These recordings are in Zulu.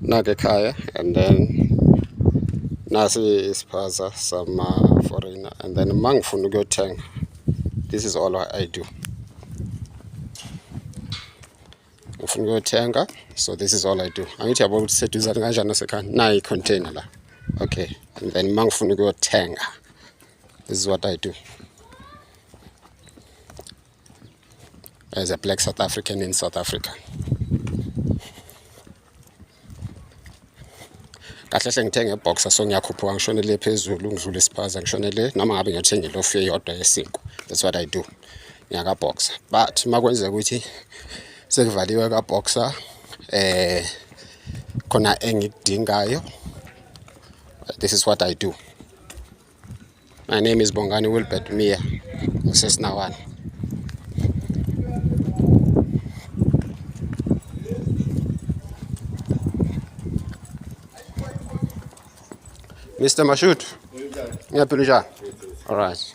nake ekhaya and then nasi isiphaza sama foreigner and then uma ngifuna ukuyothenga this is all I do ngifuna ukuyothenga so this is all I do angithi yabo ukuthi seduzane kanjani nasekhaya nayi container la okay and then uma ngifuna ukuyothenga this is what I do as a black South African in South Africa. kahle hle ngithenge ibhoxa so ngiyakhuphuka ngishonele phezulu ngidlule isiphaza ngishonele noma ngabe ngiyothenga ilofu eyodwa yesinkwa that's what i do ngiyakabhoxa but uma kwenzeka ukuthi sekuvaliwe kabhoxa eh khona engikudingayo this is what i do My name is Bongani Wilbert Mia ngisesinawana Mr. Mashut ngiyaphila njani all right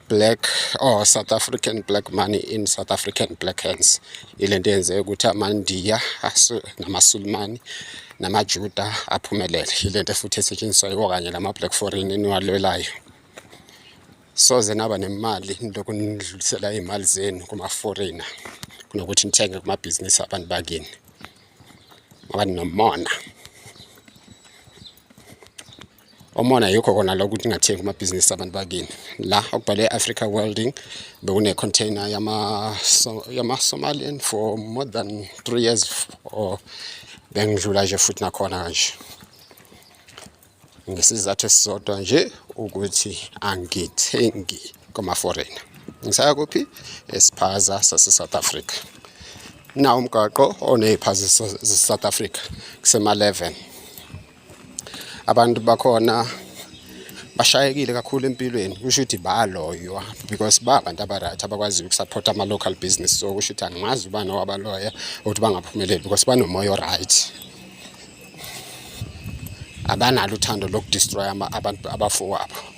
black or south african black money in south african black hands ile nto yenze ukuthi amandiya namasulumani namajuda aphumelele ile nto futhi esetshenziswa yiwo kanye lama-black foreign eniwalwelayo soze naba nemali lokhu nidlulisela iy'mali zenu kuma-foreigner kunokuthi nithenge kumabhizinisi abantu bakini ngoba ninomona omona yikho kona lokho ukuthi ungathengi kumabhizinisi abantu bakini la okubhalwe africa welding bekune-container yama-somalian for more than three years or bengidlula nje futhi nakhona kanje ngesizathu esisodwa nje ukuthi angithengi kwamaforena ngisaya kuphi esiphaza sase-south africa nawo umgaqo oney'phazi zase-south africa kusema-11 abantu bakhona bashayekile kakhulu empilweni kusho ukuthi baloywa because ba abantu abaright abakwaziyo ukusupporta ama-local business so kusho ukuthi angimazi ubani owabaloya ukuthi bangaphumeleli because banomoya oright abanalo uthando lokudestroya abantu abafowabo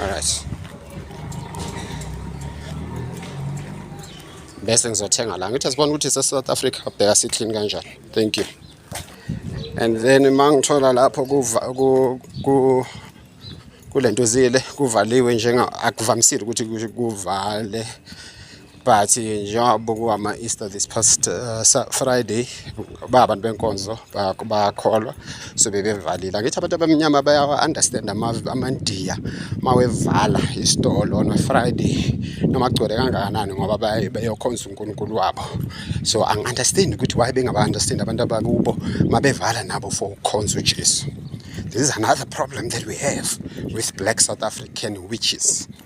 Alright. Bese ngizothenga la. Ngithi sibona ukuthi se South Africa bheka si clean kanjani. Thank you. And then mangithola lapho ku ku kulento zile kuvaliwe njenga akuvamisile ukuthi kuvale but eh, njengoba kuwama-easter this past uh, friday ba abantu benkonzo bakholwa so bebevalile angithi abantu abamnyama bayawa-understand amandiya uma wevala isitolo on friday noma kugcwele kangakanani ngoba beyokhonza unkulunkulu wabo so angi-understand ukuthi why bengaba-understand abantu abakubo uma bevala nabo for ukukhonza ujesu this is another problem that we have with black south african witches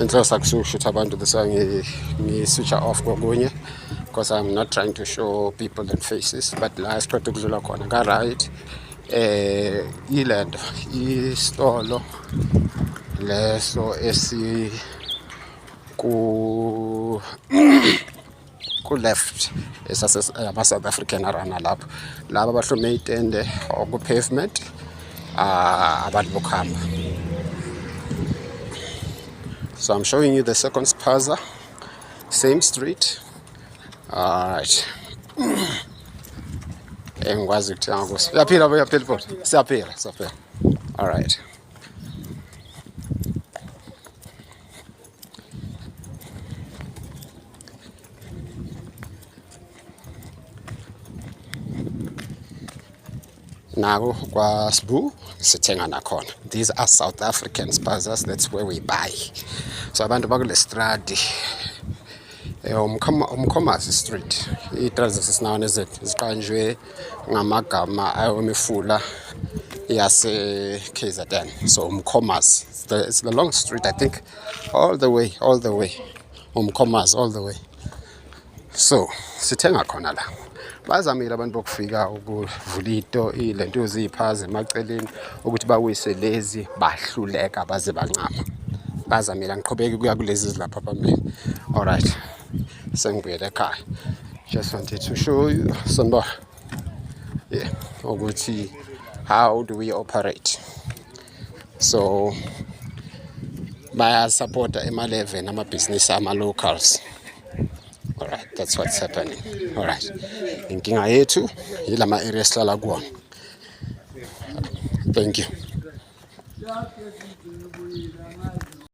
inhlosa kusushutha abantu this ngiswitcha off kokunye because i'm not trying to show people and faces but la siqeda ukudlula khona ka-right eh ile nto isitolo leso esi ku ku-left esasama-south african arana lapho laba abahlome itende okupavement ah, abantu bokuhamba so i'm showing you the second spaza same street alright engikwazi eh, ukuthenga kuso uyaphila uyaphila ibhola siyaphila siyaphila alright naku kwasbu sithenga nakhona these are south african spazas that's where we buy so abantu bakulestradi Eh, umkhomazi street iy'tradzi sesinawo nezet ziqanjwe ngamagama awemifula yase-kzn so umkhomazi it's the long street i think all the way all the way umkhomazi all the way so sithenga khona la bazamile abantu bokufika ukuvula ito le nto ziyiphaza emaceleni ukuthi bawise lezi bahluleka baze bancama bazamile angiqhubeki kuya kulezi zilapha phambili alright sengibuyele ekhaya just wanted to show you sanibona yeah ukuthi how do we operate so bayasapota ema-11 amabhizinisi ama-locals Alright, that's what's happening. Alright. Inkinga yethu yilama area esihlala kuwona. Thank you.